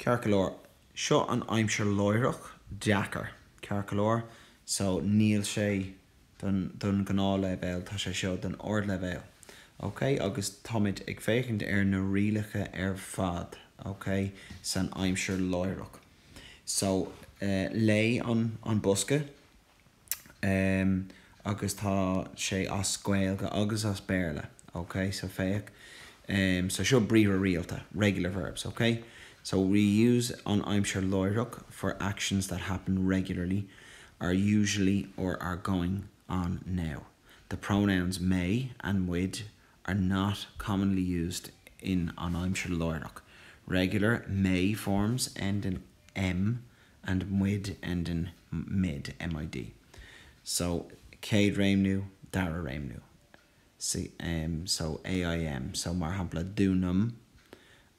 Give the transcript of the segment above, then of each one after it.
Ceart go leor, seo an aimsir láithreach, deacair, ceart go leor, so níl sé don, don ghnáthleibhéal, tá sé seo don ardleibhéal, ok, agus táimid ag féachaint ar na rialacha ar fad, ok, san aimsir láithreach. So, eh, léigh an, an bosca. em agus tá sé as Gaeilge agus as Béarla, ok so féach em so seo briathra rialta, regular verbs, ok so we use an aimsir láithreach for actions that happen regularly, are usually or are going on now. The pronouns mé and muid are not commonly used in an aimsir láithreach. Regular mé forms end in. M, and muid end in mid, MID. So céad réimniú, dara réimniú. So AIM, so mar shampla dúnaim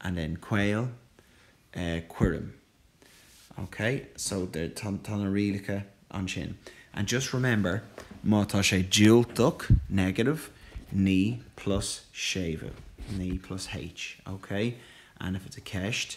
and then caol, eh, cuirim. Ok? So tá na rialacha ansin. And just remember, má tá sé diúltach, negative, ní plus séimhiú. Ní plus H. Ok? And if it's a ceist.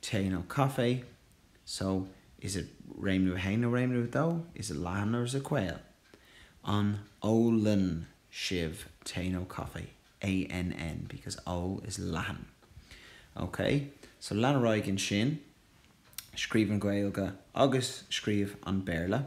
Tae nó caife? So, is it réimniú 1 or réimniú 2? Is it leathan or is it caol? An ólann sibh tae nó caife? ANN because O is leathan. Ok, so lean ar aghaidh ansin. Scríobh an Ghaeilge agus scríobh an Béarla.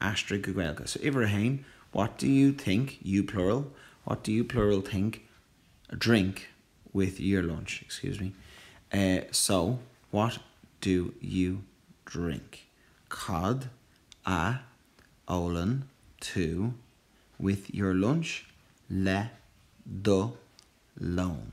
Aistrigh go Gaeilge. So uimhir a haon, what do you think, you plural, what do you plural think a drink with your lunch, excuse me, eh so what do you drink cad a ólann tú with your lunch le do lón?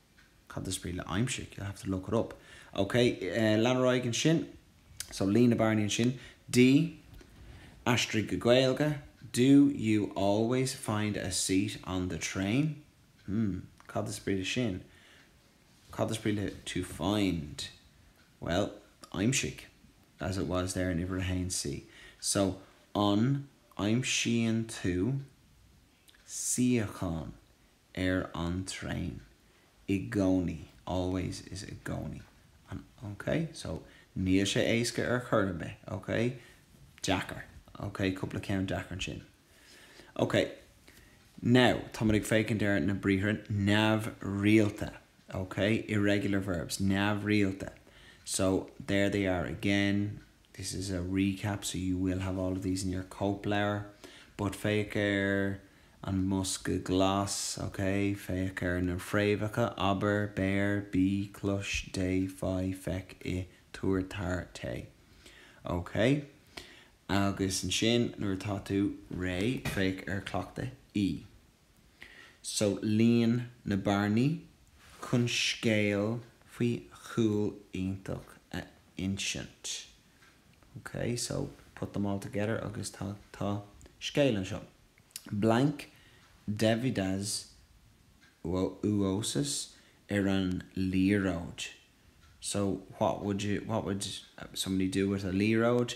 Cad is brí le aimsigh? You'll have to look it up. OK, lean ar aghaidh ansin. So líon na bearnaí ansin. D, Aistrigh go Gaeilge, Do you always find a seat on the train? Hmm, cad is brí le sin? Cad is brí le to find? Bhuel, aimsigh, as it was there in uimhir a haon C. So, an aimsíonn tú suíochán? ar an traein i gcónaí always is i gcónaí ok so níl sé éasca ar chor ar bith ok deacair ok cúpla ceann deacair ansin ok now tá muid ag féachaint ar na briathra neamhrialta ok irregular verbs neamhrialta so there they are again This is a recap so you will have all of these in your cóipleabhar but féach ar an mbosca glas, ok? Féach ar na fréamhacha, abair, beir, bí, clois, déan, faigh, feic, ith, tabhair, tar, téigh. Ok? Agus ansin nuair atá tú réidh, féach ar chleachtadh E. So líon na bearnaí chun scéal faoi chúl iontach a insint. Ok, so put them all together agus tá, tá scéal anseo. Blank Deividas Uosis ar an liathróid. So what would somebody do with a liathróid?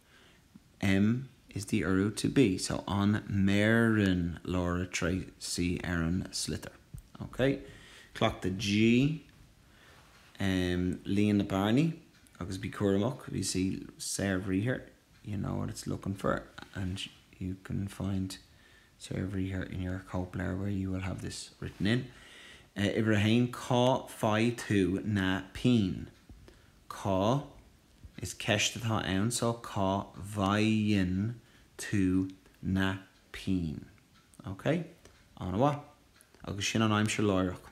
M is the urú to be, so an mbeireann Laura Tracey ar an sliotar? Ok. Cleachtadh G, em, líon na bearnaí agus bí cúramach, you see, saorbhriathar, you know what it's looking for and you can find saorbhriathar in your cóipleabhar where you will have this written in. Eh, uimhir a haon, cá faigh tú na pinn? Cá, is ceist atá ann so, cá bhfaigheann tú na pinn? OK. An-mhaith. Agus sin an aimsir láithreach.